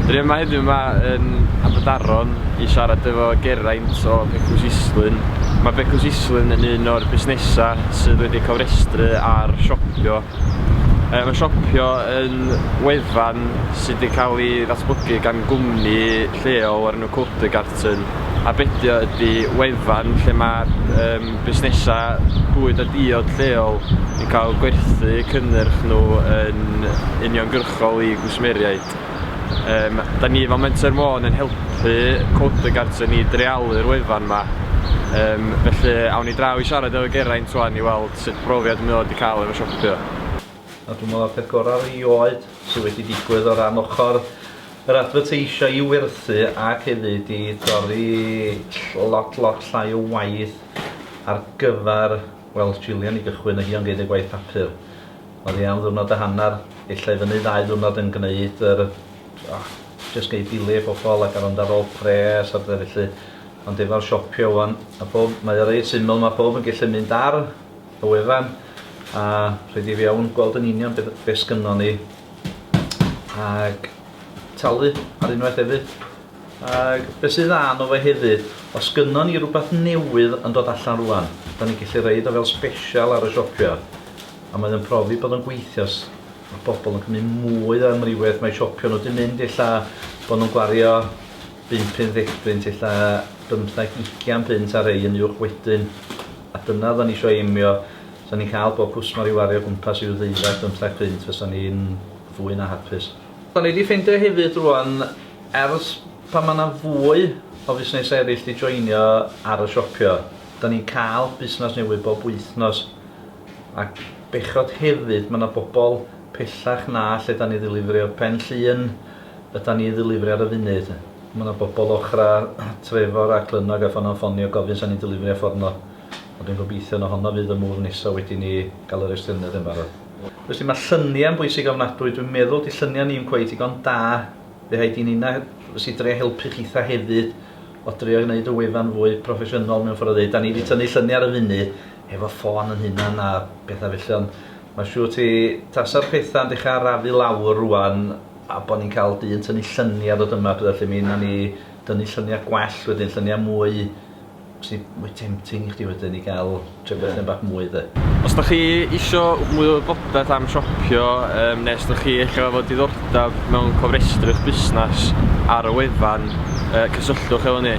Dyn ni yma heddiw 'ma yn Aberdaron i siarad efo Geraint o Becws Islwyn. Mae Becws Islwyn yn un o'r busnesau sydd wedi cofrestru ar Shopio. Yy mae Shopio yn wefan sydd wedi cael ei ddatblygu gan gwmni lleol o'r enw Codegarten a be' 'di o ydi wefan lle mae yym busnesau bwyd a diod lleol yn cael gwerthu cynnyrch nhw yn uniongyrchol i gwsmeriaid. Yym, da ni fel Menter Môn yn helpu Coder Garden i dreialu'r wefan yma. Yym, felly, awn ni draw i siarad efo Geraint wan i weld sut brofiad mae o wedi cael efo siopio. A dwi'n meddwl y peth gorau erioed sydd wedi digwydd o ran ochr yr adfyrteisio i werthu ac hefyd i dorri lot, lot llai o waith ar gyfer, wel, Gillian i gychwyn, a hi o'n gwneud y gwaith papur. Oddi am ddiwrnod a hanner, ella i fyny ddau ddiwrnod yn gneud yr o, jyst gei dileu i bobl ac ar ond ar ôl pres a bethe felly. Ond efo'r siopio ŵan a phob mae o reit syml ma' phob yn gellu mynd ar y wefan a rhoid i fewn gweld yn union be' be' sgynnon ni ag talu ar unwaith hefyd. Ac be sydd dda yno fo hefyd, os gynnon ni rwbath newydd yn dod allan rŵan, da ni'n gallu roid o fel sbesial ar y siopia, a mae o'n profi bod o'n gweithio, os ma' pobl yn cymryd mwy o amrywiaeth mae siopio nhw, 'di mynd ella bod nhw'n gwario bump, pump deg punt, ella bymtheg, ugian punt ar rhei yn uwch wedyn, a dyna odda ni isio aimio, os da ni'n cael bob cwsmar i wario o gwmpas ryw ddeuddeg, bymtheg punt, fysa ni'n fwy na hapus. Da ni 'di ffeindio hefyd rŵan, Ers pan mae 'na fwy o fusnesau eraill 'di joinio ar y siopio, 'dan ni'n cael busnes newydd bob wythnos. A bechod hefyd, mae 'na bobl pellach na lle 'dan ni ddilifrio, Pen Llŷn ydan ni ddilifrio ar y funud. Mae 'na bobl ochrau Trefor a Clynnog a Ffonau'n ffonio gofyn 'sa ni'n dilifrio fforno. Ond dwi'n gobeithio na honno fydd y move nesa wedi ni gael yr estyniad yn barod. Felly mae lluniau'n bwysig ofnadwy, dwi'n meddwl 'di lluniau ni'm cweit digon da. Fe ai di'n una fys i drio helpu chitha hefyd o drio gneud y wefan fwy proffesiynol mewn ffor o ddeud, da ni di tynnu llyni ar y funu efo ffôn yn hunan a petha felly ond ma siwr ti tasa'r petha'n dechra arafu lawr rwan a bo ni'n ca'l dyn tynnu llyni a dod yma a petha felly mi una ni dynnu llynia gwell wedyn llynia mwy Sy mwy tempting i chdi wedyn i gael trio bethe bach mwy de. Os da chi isio mwy o wybodaeth am siopio yym nes da chi ella efo diddordab mewn cofrestru'ch busnas ar y wefan yy cysylltwch efo ni.